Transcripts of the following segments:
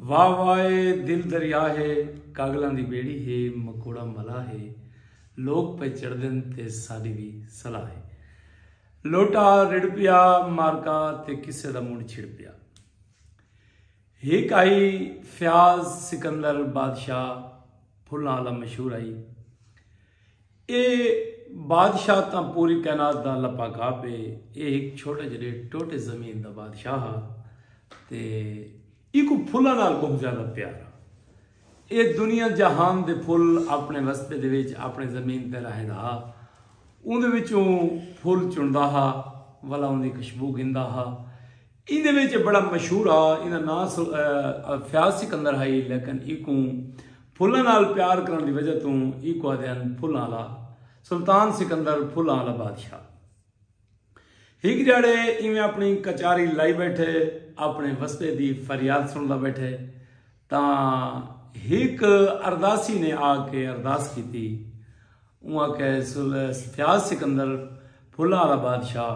واہ واہ اے دل دریا ہے کاگلاں دی بیڑی ہے مکوڑا ملا ہے لوک پے چڑھدن تے ساڈی وی صلاح ہے لوٹا رڑ پیا مارکا تے کسے دا منڈ چھڑ پیا ہک آئی فیاض سکندر بادشاہ پھلاں والا مشہور آئی اے بادشاہ تاں پوری کائنات دا اللہ پاک آپ ہے۔ اے ہک چھوٹے جیہڑے ٹوٹے زمین دا بادشاہ ہا تے ایکوں پھلاں نال بہوں زیادہ پیار ہا۔ اے دنیا جہان دے پھل اپݨے وسبے دے وچ اپݨے زمین تے راہیندا ہا۔ اوندے وچوں پھل چݨدا ہا ولا اوندی خشبو گھندا ہا۔ ایندے وچ بڑا مشہور ہا ایندا ناں فیاض سکندر ہئی لیکن ایکوں پھلاں نال پیار کرن دی وجہ توں ایکوں آدھے ہن پھلاں آلا سلطان سکندر پھلاں آلا بادشاہ ہک جاڑے ایویں اپنی کچاری لائی بیٹھے اپنے وسبے دی فریاد سندا بیٹھے تا ہک ارداسی نے آ کے ارداس کی تھی وہاں کہ فیاض سکندر پھلا والا بادشاہ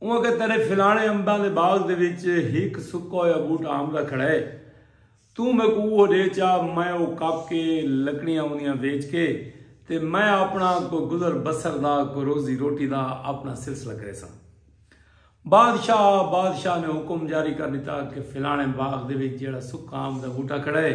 اوں آکھیا تیڈے فلانے امباں دے باغ دے وچ ہک سکا ہویا بوٹا آم دا کھڑا ہے توں میکوں اوہو ڈے چا میں او کپ کے لکڑیاں اوندیاں ویچ کے تے میں اپنا کوئی گزر بسر دا کوئی روزی روٹی دا اپنا سلسلہ کریساں۔ بادشاہ بادشاہ نے حکم جاری کر ڈتا کہ فلانے باغ دے وچ جیڑھا سکا آم دا بوٹا کھڑا ہے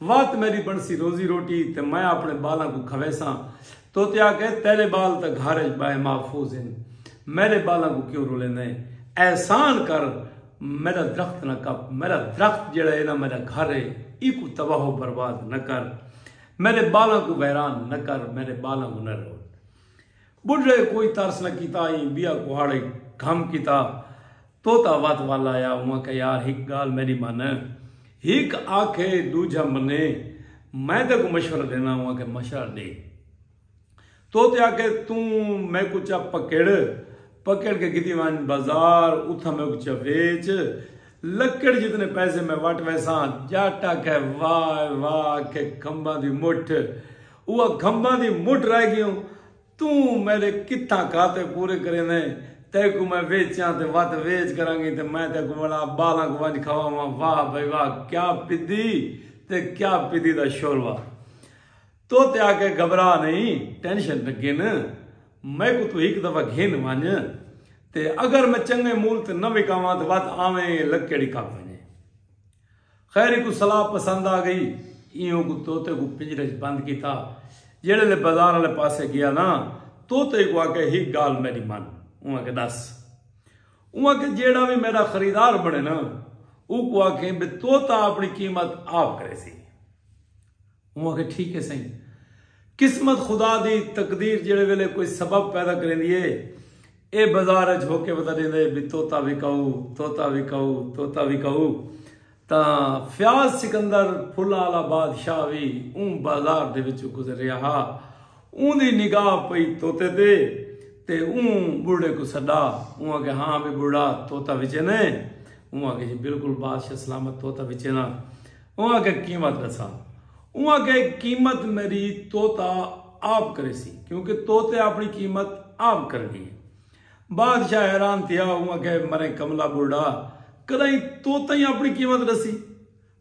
وات میڈی بنسی روزی روٹی تے میں اپنے بالاں کوں کھویساں توتے آکھے تیرے بال تاں گھر اچ بائے محفوظ ہن میڈے بالاں کوں کیوں رولیندے ہیں احسان کر میڈا درخت نہ کپ میڈا درخت جیڑا ہے نا میڈا گھر ہے ایکوں تباہ و برباد نہ کر میڈے بالاں کوں ویران نہ کر میڈے بالاں کوں نہ روڑ ٻڈھڑے کوئی ترس نہ کیتا ایں بیا کوہاڑے گھم کیتا طوطا وت ول آیا اوں آکھیا یار ہک گالھ میڈی من ہک آکھے ڈوجھا منے میں تیکوں مشورہ ڈینا اوں آکھیا مشورہ ڈے طوطے آکھے توں میکوں چا پکڑ پکڑ کے گھدی ونج بازار اتھاں میکوں چا ویچ لکڑ جتنے پیسے میں وٹ ویساں جٹ آکھے واہ واہ آکھے کھمباں دی مٹھ او اکھمباں دی مٹ رہ گیوں توں میڈے کتھاں کھاتے پورے کریندے تیکوں میں ویچاں تے وت ویچ کرانگی تے میں تیکوں وڑا بالانک ونج کھواواں واہ بھئی واہ کیا پدی تے کیا پدی دا شوروا توتے آکھے گھبرا نئیں ٹینشن نہ گھن میکوں توں ہک دفعہ گھن ونج تے اگر میں چنگے مول تے نہ وکاواں تے وت آویں لکیڑی کھپ ونجے۔ خیر اکوں صلاح پسند آ گئی ایں اوکوں طوطے کوں پنجرے اچ بند کیتا جیڑھے لے بازار آلے پاسے گیا نا طوطے کوں آکھیا ہک گالھ میڈی من اوں آکھیا ڈس اوں آکھیا جیڑھا وی میڈا خریدار بنے نا اوکوں آکھیں بے طوطا اپنی قیمت آپ کریسی۔ ہوں آکھیا ٹھیک ہے سئیں۔ قسمت خدا دی تقدیر جیڑھے ویلے کوئی سبب پیدا کریندی ہے ایہ بازار اچ ہوکے پتہ ڈیندا ہے بی طوطا وکاؤ طوطا وکاؤ طوطا وکاؤ تاں فیاض سکندر پھلاں آلا بادشاہ وی اوں بازار دے وچوں گزریا ہا اوندی نگاہ پئی طوطے تے تے اوں بڈھڑے کوں سڈا اوں آکھیا ہاں بی بڈھڑا طوطا وچیندے اوں آکھیا جی بلکل بادشاہ سلامت طوطا وچیندا۔ اوں آکھیا قیمت ڈسا۔ اوں آکھیا قیمت میڈی طوطا آپ کریسی کیونکہ طوطے آپنی قیمت آپ کرنی ہے۔ بادشاہ حیران تھیا اوں آکھیا مرے کملا بڈھا کڈاہیں طوطا ہی آپنی قیمت ڈسی۔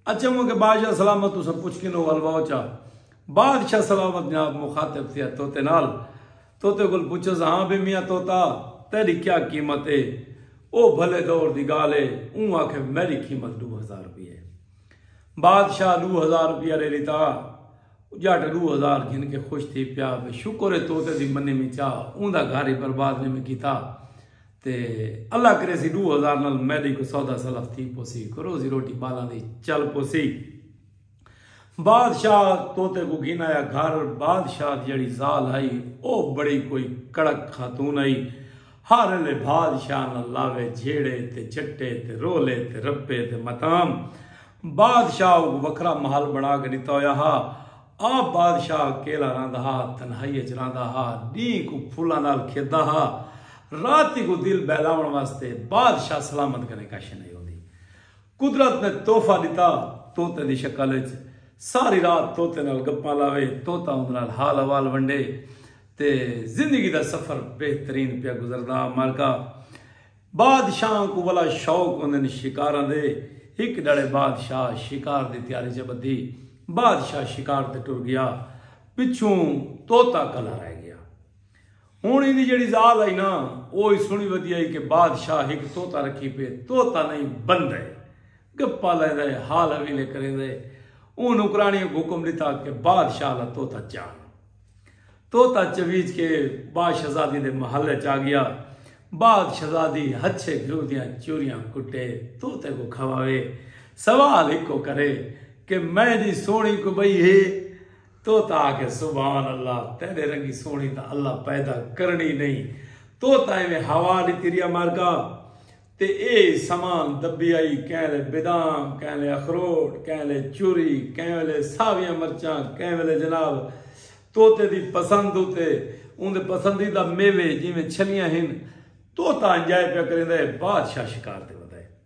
اچھا اوں آکھیا بادشاہ سلامت تساں پچھ کنوں الواؤ چا۔ بادشاہ سلامت جناب مخاطب تھیا طوطے نال۔ طوطے کول پچھس ہاں بے میاں طوطا تیڈی کیا قیمت اے او بھلے دور دی گالھ اے اوں آکھے میڈی قیمت ڈو ہزار روپیہ اے بادشاہ ڈو ہزار روپیہ ڈے ڈتا جٹ ڈو ہزار گھن کے خوش تھی پیا بے شکر اے طوطے دی منی میں چا اوں دا گھر ہی برباد نی میں کیتا تے اللہ کرے سی ڈو ہزار نال میڈی کو سودا سلف تھی پوسی کروزی روٹی بالاں دی چل پوسی بادشاہ طوطے کوں گھن آیا گھر۔ بادشاہ دی جیڑھی زال ہئی او بڑی کوئی کڑک خاتون ہئی۔ ہر ایلے بادشاہ نال لاوے جھیڑے تے جھٹے تے رولے تے رپے تے متام۔ بادشاہ اوکوں وکھرا محل بنا کے ݙتا ہویا ہا۔ آپ بادشاہ اکیلا رہندا ہا، تنہائی اچ رہندا ہا۔ ݙینہہ کوں پھلاں نال کھیݙدا ہا۔ راتی کوں دل بہلاوݨ واسطے بادشاہ سلامت کنے کش نئیں ہوندی۔ قدرت نے تحفہ ݙتا طوطے دی شکل وچ، ساری رات طوطے نال گپاں لاوے، طوطا اوندے نال حال احوال ونڈے تے زندگی دا سفر بہترین پیا گزردا امرکا بادشاہاں کوں ولا شوق ہوندن شکاراں دے ہک ڈھڑے بادشاہ شکار دی تیاری چ بدھی بادشاہ شکار تے ٹر گیا پچھوں طوطا کلا رہ گیا ہݨ ایندی جیڑھی ذال ہئی نا او ای سݨی ودی ہئی کہ بادشاہ ہک طوطا رکھی پئے، طوطا نئیں بندہ ہے، گپاں لیندا ہے، حال حویلے کریندا ہے، اوں نوکراݨی کوں حکم ݙتا کہ بادشاہ دا طوطا چاݨ۔ طوطا چویچ کے با شہزادی دے محل اچ آڳیا، با شہزادی ہچھے گھیو دیاں چوریاں کٹے طوطے کوں کھاوے، سوال ہکو کرے کہ میں دی سوہݨی کوں ٻئی ہے؟ طوطا آکھیا سبحان اللہ تیڈے رنگی سوہنی تاں اللہ پیدا کرنڑی نئیں طوطا ایویں ہوا ڈتی ریا مرگا تے اے سمان دبی آئی کہیں لے بدام کہیں لے اخروٹ کہیں لے چوری کہیں ویلے ساویاں مرچاں کہیں ویلے جناب طوطے دی پسند اتے اوندے پسندیدہ میوے جیویں چھلیاں ہن طوطا انجوائے پیا کریندا ہے بادشاہ شکار تے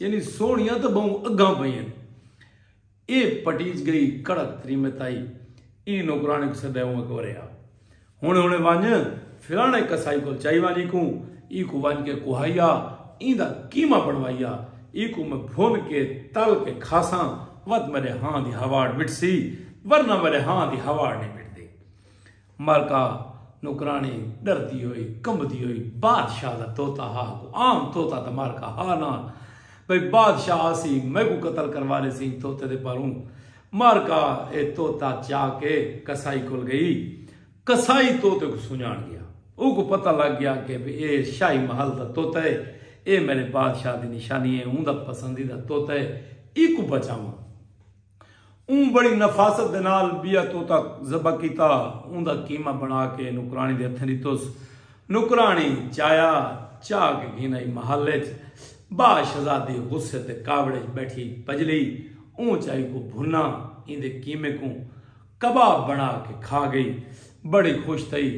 یعنی سوہنیاں تاں ٻہوں اگاں پئین۔ اے پٹیج گئی کڑک تریمت آئی۔ ایں نوکراݨے کوں سدے اوں اکورے آ۔ ہݨے ہݨے ونڄ فلاݨے قصائی کول چائی ونڄ ایکوں ایکوں ونڄ کے کوہائی آ ایندا قیمہ بݨوائی آ۔ ایکوں میں بھن کے تل کے کھاساں وت میݙے ہاں دی ہواڑ مٹسی ورنہ میݙے ہاں دی ہواڑ نئیں مٹدی۔ ملکہ نوکرانی ݙردی ہوئی کمبدی ہوئی بادشاہ دا طوطا ہا کو عام طوطا تاں ملکہ ہا نہ بھئی بادشاہ آسی میکوں قتل کروا لیسی ایں طوطے دے پاروں ملکہ اے طوطا چا کے قصائی کول گئی قصائی طوطے کوں سنڄاݨ ڳیا اوکوں پتہ لڳ ڳیا کہ اے شاہی محل دا طوطا اے اے میݙے بادشاہ دی نشانی اے اوندا پسندیدہ طوطا اے ایکوں بچاواں۔ اوں بڑی نفاست دے نال ٻیا طوطا ذبح کیتا۔ اوں دا قیمہ بݨا کے نوکراݨی دے ہتھیں ݙتس۔ نوکراݨی چایا چاہ کے گھن آئی محل اچ۔ ٻا شہزادی غصے تے کاوڑ اچ ٻیٹھی پڄلی۔ اوں چائی کوں بھنا ایندے قیمے کوں کباب بݨا کے کھا ڳئی۔ بڑی خوش تھئی۔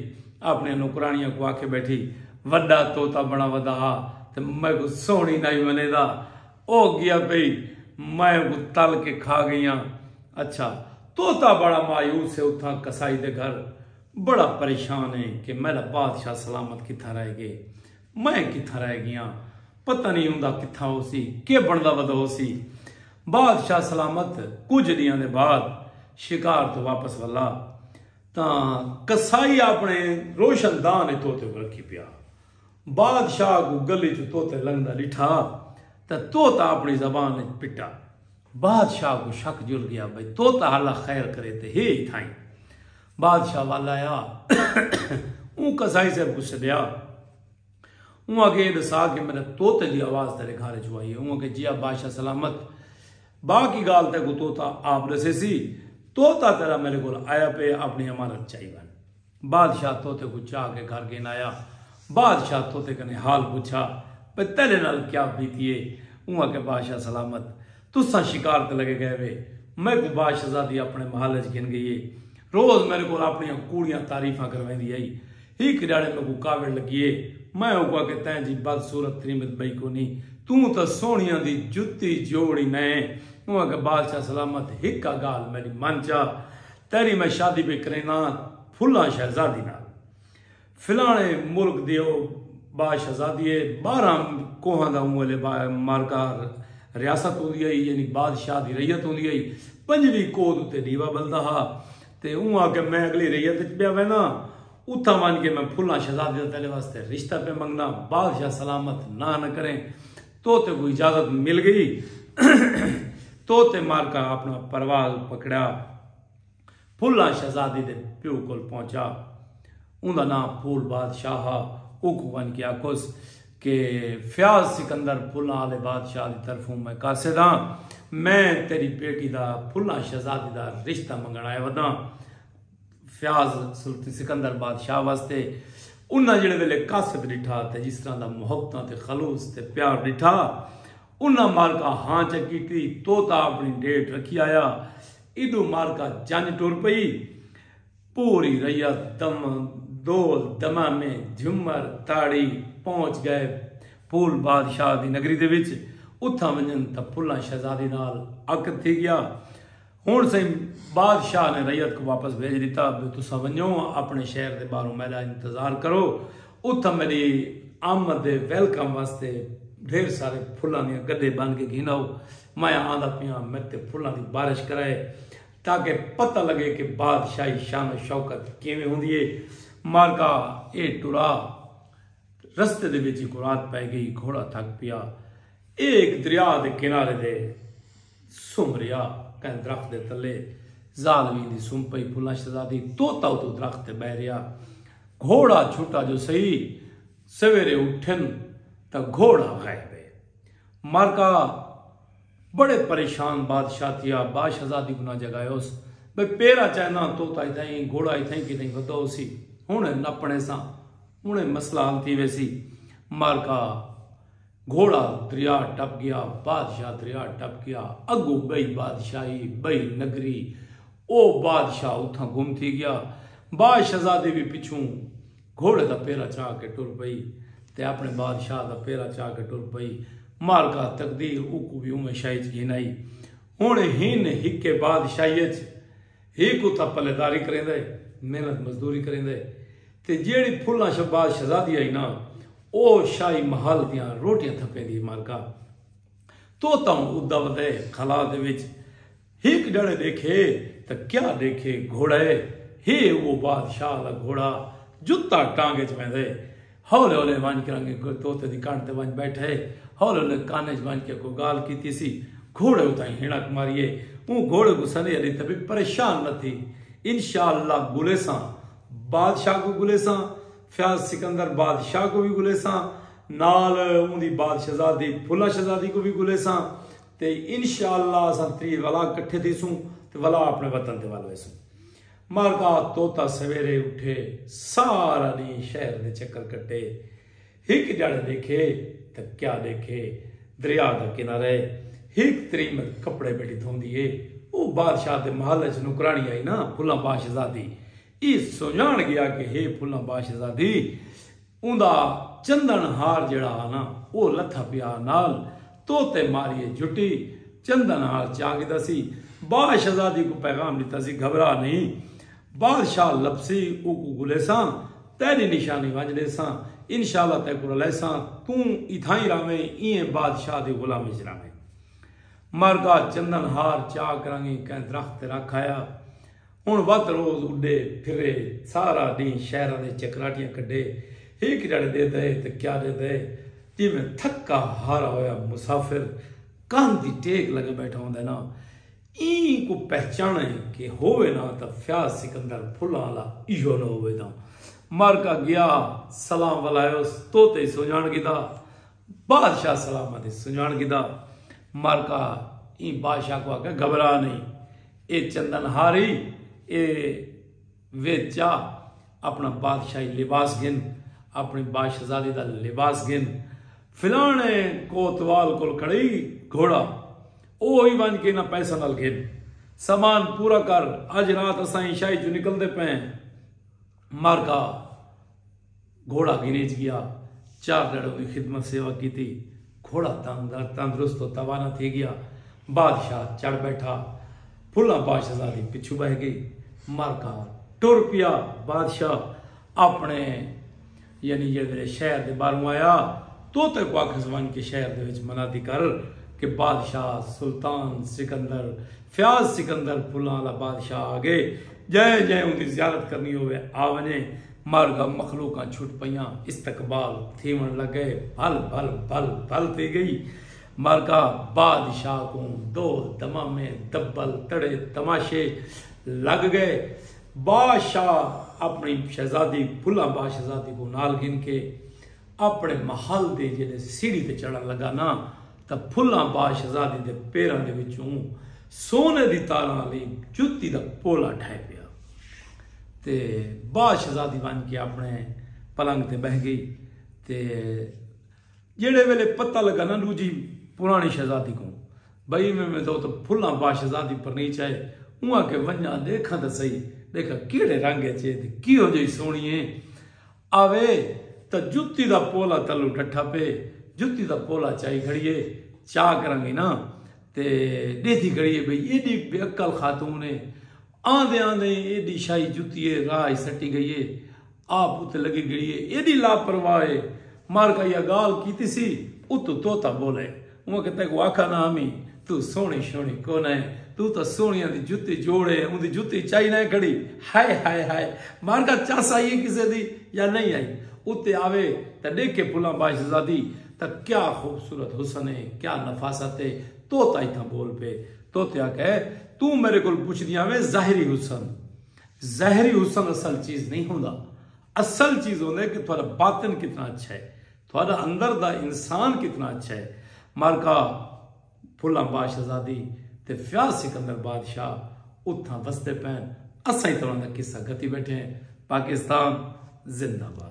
آپݨیاں نوکراݨیاں کوں آکھے ٻیٹھی، وݙا طوطا بݨا ودا ہا تے میکوں سوہݨی نائی ونیدا۔ او گیا پئی میں اکوں تل کے کھا گئیاں اچھا طوطا بڑا مایوس ہے اتھاں قصائی دے گھر بڑا پریشان ہے کہ میڈا بادشاہ سلامت کتھاں رہ گئے میں کتھاں رہ گیاں پتہ نہیں ہوندا کتھاں ہو سی کے بندا ودا ہو سی بادشاہ سلامت کچھ دیاں دے بعد شکار تو واپس ولا تاں قصائی اپنے روشن دان طوطے کو رکھی پیا۔ بادشاہ کوں گلی چوں طوطے لنگھدا ڈٹھا تاں طوطا اپنڑی زبان اچ پٹا۔ بادشاہ کوں شک جل گیا بھئی طوطا ہلا خیر کرے تے ہے ای تھائیں۔ بادشاہ ول آیا۔ اوں قصائی صاحب کوں سڈیا۔ اوں آکھیا اے ڈسا کہ میڈے طوطے دی آواز تیڈے گھر اچ آئی اے۔ اوں آکھیا جی آ بادشاہ سلامت۔ باقی گالھ تیکوں طوطا آپ ڈسیسی۔ طوطا تیڈا میڈے کول آیا پئے اپنڑی امانت چائی ونج۔ بادشاہ طوطے کوں چا کے گھر گھن آیا۔ بادشاہ طوطے کنیں حال پچھا بھئی تیڈے نال کیا بیتی ہے۔ اوں آکھیا بادشاہ سلامت تساں شکار تے لگے گئے وے۔ میکوں با شہزادی اپنے محل اچ گھن گئی ہے۔ روز میڈے کول اپنیاں کوڑیاں تعریفاں کرویندی ہئی۔ ہک ڈیہاڑے میکوں کاوڑ لگی ہے۔ میں اوکوں آکھیا تیں جی بد صورت تریمت بئی کونی۔ توں تاں سوہنیاں دی جتی جوڑ ای نئیں۔ اوں آکھیا بادشاہ سلامت ہک گالھ میڈی من چا۔ تیری میں شادی پے کرینا پھلاں شہزادی نال فلانے ملک دی او با شہزادی ہے بارہاں کوہاں دا اوں ویلے با مارکا ریاست ہوندی ہئی یعنی بادشاہ دی ریت ہوندی ہئی پنجویں کوہ دے اتے ڈیوا بلدا ہا تے اوں آکھیا میں اگلی ریت وچ پیا وینا اتھاں ونج کے میں پھلاں شہزادی دا تیرے واسطے رشتہ پے منگنا بادشاہ سلامت نہ نہ کریں تو تے کوں اجازت مل گئی تو تے مارکا اپنا پرواز پکڑیا پھلاں شہزادی دے پیو کول پہنچا اوندا نام پھول بادشاہ ہا اوکوں ونج کے آکھوس کہ فیاض سکندر پھلاں والے بادشاہ دی طرفوں میں قاصد ہاں میں تیری بیٹی دا پھلاں شہزادی دا رشتہ منگن آئے وداں فیاض سلطنت سکندر بادشاہ واسطے انہاں جڑے ویلے کاسد ڈٹھا تے جس طرح دا محبتاں تے خلوص تے پیار ڈٹھا انہاں مالکا ہاں چا کیتی توتا اپنی ڈیٹ رکھی آیا ایڈو مالکا جنج ٹر پئی پوری ریت دم دول دمامے جھمر تاڑی پہنچ گئے پھول بادشاہ دی نگری دے وچ اتھاں ونجن تا پھلاں شہزادی نال عقد تھی گیا۔ ہنڑ سئیں بادشاہ نے رعیت کوں واپس بھیج ڈتا بھئی تساں ونجو اپنڑے شہر دے باہروں میڈا انتظار کرو اتھاں میڈی آمد دے ویلکم واسطے ڈھیر سارے پھلاں دیاں گڈے بن کے گھن آؤ میں آندا پیاں میڈ تے پھلاں دی بارش کرائے تاکہ پتہ لگے کہ بادشاہی شان و شوکت کیویں ہوندی ہے مارکا اے ٹرا رستے دے وچ کو رات پے گئی گھوڑا تھک پیا اے ایک دریا دے کنارے دے سم ریا کہیں درخت دے تلے زالوی دی سم پئی پھلا شہزادی توتا اتو درخت تے بہ ریا گھوڑا چھٹا جو سہی سویرے اٹھن تا گھوڑا غائب ہے مارکا بڑے پریشان بادشاہ تھیا با شہزادی گنا جگائے اس بے پیرا چاہنا توتا ایتھا ہی گھوڑا ایتھا ہی کی نہیں بھدا ہو سی ہن نپنے سا ہن مسئلہ حل تھی ویسی مارکا گھوڑا دریا ٹپ گیا بادشاہ دریا ٹپ گیا اگوں بئی بادشاہی بئی نگری او بادشاہ اتھاں گم تھی گیا با شہزادی وی پچھوں گھوڑے دا پیرا چا کے ٹر پئی تے اپنے بادشاہ دا پیرا چا کے ٹر پئی مالکا تقدیر اوکوں وی اوویں شاہی اچ گھن آئی ہن ہن ہکے بادشاہی اچ ہی کتا پلے داری کریندا ہے، محنت مزدوری کریندا ہے تے جیہڑی پھلاں شہباز شہزادی آئی نا او شاہی محل دیاں روٹیاں تھپیندی ہے مالکا تو تاں ادا ودے خلا دے وچ ہک ڈڑے ڈیکھے تاں کیا ڈیکھے گھوڑا ہے ہی او بادشاہ دا گھوڑا جتا ٹانگ اچ ویندا ہے ہولے ہولے ونج کے رنگے گل توتے دی کنڈ تے ونج بیٹھے ہولے ہولے کان وچ ونج کے کو گال کیتی سی گھوڑے اتائی ہنک ماریے اوں گھوڑے کو سنی علی تبی پریشان نہ تھی انشاءاللہ گلے ساں بادشاہ کو گلے ساں فیاض سکندر بادشاہ کو بھی گلے ساں نال اون دی بادشاہزادی پھلا شہزادی کو بھی گلے ساں تے انشاءاللہ اساں تری ولا کٹھے تھی سوں تے ولا اپنے وطن تے والوے سوں مارکا توتا سویرے اٹھے سارا ڈینہہ شہر دے چکر کٹے ہک جاڑے ڈیکھے تاں کیا ڈیکھے دریا دا کنارہ ہے ہک تریمت کپڑے بیٹھی دھوندی ہے او بادشاہ دے محل اچ نوکرانی آئی نا پھلاں باشزادی ای سنجان گیا کہ ہے پھلاں باشزادی اوندا چندݨ ہار جیڑھا ہا نا او لتھا پیا ہا نال طوطے ماریے جھٹی چندݨ ہار چا گھدا سی با شہزادی کوں پیغام ݙتا سی گھبرا نئیں بادشاہ لبھسی اوکوں گھلیساں تیݙی نشانی ونج ݙیساں انشاءاللہ تیکوں رلیساں توں اتھائیں رہویں ایں بادشاہ دی غلامی وچ رہویں مرگا چندݨ ہار چا کرانگیں کہیں درخت تے رکھ آیا۔ ہݨ ودھ روز اݙے پھرے سارا ݙینہہ شہراں دے چکراٹیاں کڈھے ہک جھڑ ݙے دئے تاں کیا ݙے دئے جیویں تھکا ہارا ہویا مسافر کندھ دی ٹیک لگے ٻیٹھا ہوندے نا ایں کوں پہچاݨے کہ ہووے نا تاں فیاض سکندر پھلاں آلا ایہو نہ ہووے تاں مر کا گیا سلام ولائیوس تو تے سنڄاݨ گھدا بادشاہ سلاماں دی سنڄاݨ گھدا مر کا ایں بادشاہ کو آکھیا گھبرا نہیں اے چندن ہاری اے وچ آ اپݨا بادشاہی لباس گھن اپݨی باشزادی دا لباس گھن فلاݨے کوتوال کول کھڑئی گھوڑا او ہی ونج کے انہاں پیساں نال گھن سامان پورا کر اج رات اساں عشاء اچوں نکلدے پئے ہیں۔ مر گا گھوڑا گھریچ گیا چار دڑوں دی خدمت سیوا کیتی گھوڑا تندرست و توانا تھی گیا بادشاہ چڑھ بیٹھا پھلا بادشاہ دی پچھو بہ گئی مر گا ٹر پیا بادشاہ اپنے یعنی جیڑھے ویلے شہر دے باہروں آیا توں تیکوں آکھس ونج کے شہر دے وچ منادی کر کہ بادشاہ سلطان سکندر فیاض سکندر پھلاں آلا بادشاہ آگئے جئیں جئیں اوندی زیارت کرنی ہووے آ ونجے مارگا مخلوقاں چھٹ پئیاں استقبال تھیون لگ گئے بھل بھل بھل بھل تھی گئی مارگا بادشاہ کوں ڈول دمامے دبل تڑے تماشے لگ گئے۔ با شاہ اپݨی شہزادی بھلا با شہزادی کوں نال گھن کے اپݨے محل دی جیلے سیڑھی تے چڑھݨ لگا نا تاں بھلا با شہزادی دے پیراں دے وچوں سونے دی تاراں آلی جتی دا پولا ڈھہہ پیا تے با شہزادی ونڄ کے اپݨے پلنگ تے ٻہہ ڳئی تے جیڑھے ویلے پتہ لگا نا ڈوجھی پرانی شہزادی کوں بھئی میں میں تو پھلاں با شہزادی پرنی چائے اواں کے ونجاں دیکھاں تے سہی دیکھا کیڑے رنگ اچ اے تے کیہو جئی سوہنی اے آوے تاں جتی دا پولا تلو ڈٹھا پے جتی دا پولا چائی کھڑیے چا کرنگی نا تے ڈیدھی کھڑیے بھئی ایڈی بے عقل خاتون اے آندے آندے ایڈی شاہی جتی اے راہ اچ سٹی گئی اے آپ اتے لگی گھڑی اے ایڈی لاپرواہ اے مار کا یا گال کیتی سی اتو طوطا بولے اواں کہ تیکوں آکھا نہ ہمی تو سوہنی شوہنی کونئ تو تاں سوہنیاں دی جتی جوڑ اے اوندی جتی چائی نئ کھڑی ہائے ہائے ہائے مار کا چس آئی اے کسے دی یا نئ آئی اتے آوے تاں ڈیکھے پھلاں باشزادی تاں کیا خوبصورت حسن اے کیا نفاست اے طوطا اتھاں بول پے طوطے آکھا اے توں میرے کول پچھدیاں ویں ظاہری حسن ظاہری حسن اصل چیز نہیں ہوندا اصل چیز ہوندا ہے کہ تھوڑا باطن کتنا اچھا ہے تھوڑا اندر دا انسان کتنا اچھا ہے مارکا پھلا باش آزادی تے فیاض سکندر بادشاہ اتھاں وستے پین اساں ہی تران دا قصہ گتی بیٹھے ہیں پاکستان زندہ باد